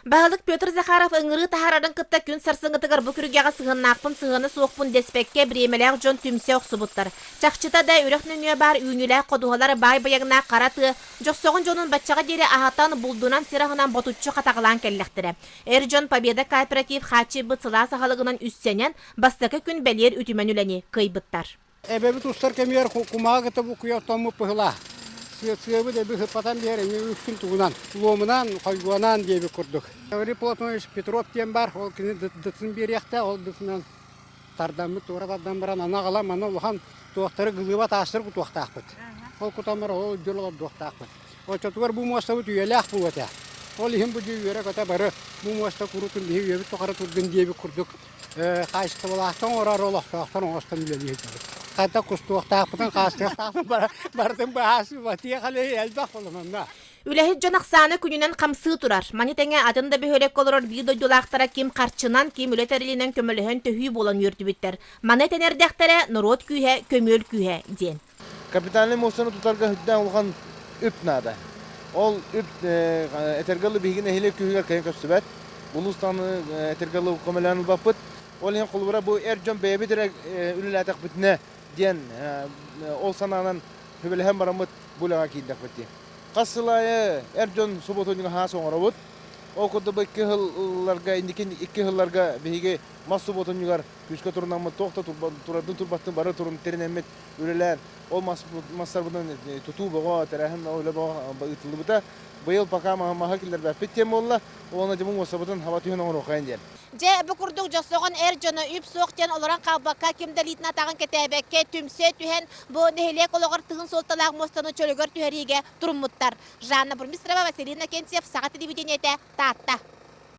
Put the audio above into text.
Баһылык Петр Захаров ыҥырыы таһаарарын кытта күн сарсыҥҥытыгар бу күргэҕэ сыһыаннаахпын сыһыана суохпун дэспэккэ бириэмэлээх дьон түмсэ охсубуттар. Чахчыта да үрэх нөҥүө баар үүнүүлээх ходуһалар баай байыҥнаах хара тыа дьохсоҕон дьонун баччаҕа диэри аһатан, булдунан сир аһынан ботуччу хатаҕалаан кэллэхтэрэ. Эр дьон Победа кооператив хааччыйбыт сылаас аһылыгынан үссэнэн, бастакы күн бэлиэр үтүмэн үлэни кыайбыттар. Эбэбит устар кэмигэр кумаҕы кытта букуйа оттоммут быһыылаах. Сыабыт эби сыппатан биэр эмиэ үксүн тугунан, луомунаан, хойгуонаан диэбит курдук. Риплотович Петров диэн баар, ол кини дытын биэриэхтээх, ол дытынан тардаммыт туора тардан баран аны аҕалан маны улахан туохтары гылыыба таастары кутуохтаахпыт. Ол кутан баран ол дьыл олордуохтаахпыт. Оччотугар бу муостабыт үйэлээх буолуо этэ. Ол иһин бу дьиэ үөрэ-көтө бары бу муоста курутун биһи үйэбит тухары турдун диэбит курдук хаачыстыбалаахтан оҥорор олохтоохтор оҥостон үлэлии сылдьабыт. Хата кустуохтаахпытын, хаастыахтаахпытын барытын быһаасыбатыах әле элбэх холононно. Үлэһит дьон ахсаана күнүнэн хамсыы турар. Маны тэҥэ атын да бөһүөлэккэ олорор биир дойдулаахтара ким харчынан, ким үлэ тэрилинэн көмөлөһөн төһүү буолан үөрдүбүттэр. Маны этэн эрдэхтэрэ, норуот күүһэ, көмүөл күүһэ диэн. Капитальнай муостаны тутарга үрдээн улахан үп наада. Ол үп этэргэ дылы биһиги нэһилиэк күһүгэр кэлэн көрсүбэт. Улуус таһынан этэргэ дылы көмөлөөн ылбаппыт. Ол иһин холобура бу эр дьон бэйэбит эрэ үлэлээтэхпитинэ диэн ол санаанан сүбэлэһэн бараммыт бу үлэҕэ киирдэхпит дии. Хас сыл аайы эр дьон субуотунньуга хаас оҥоробут. Ол курдук икки сылларга инники икки сылларга биһиги мас субуотунньугар күүскэ турунаммыт туох да турбаттын бары турун тэринэммит үлэлээн ол массарбытынан тутуу бөҕө тэрээһин үлэ бөҕө ыытыллыбыта быйыл пока маһы киллэрбэппит диэн буолла уонна дьомун уоссабытын хаба түһэн оҥоруоххайын диэн дьэ бу курдук дьосоҕон эр дьоно үп суох диэн олорон хаалбакка ким да илиитин атаҕын кэтээбэккэ түмсэ түһэн бу нэһилиэк олоҕор тыһын суолталаах муостаны чөлүгэр түһэриигэ туруммуттар жанна бурмистрова василина кентьев саха телевидениетэ таатта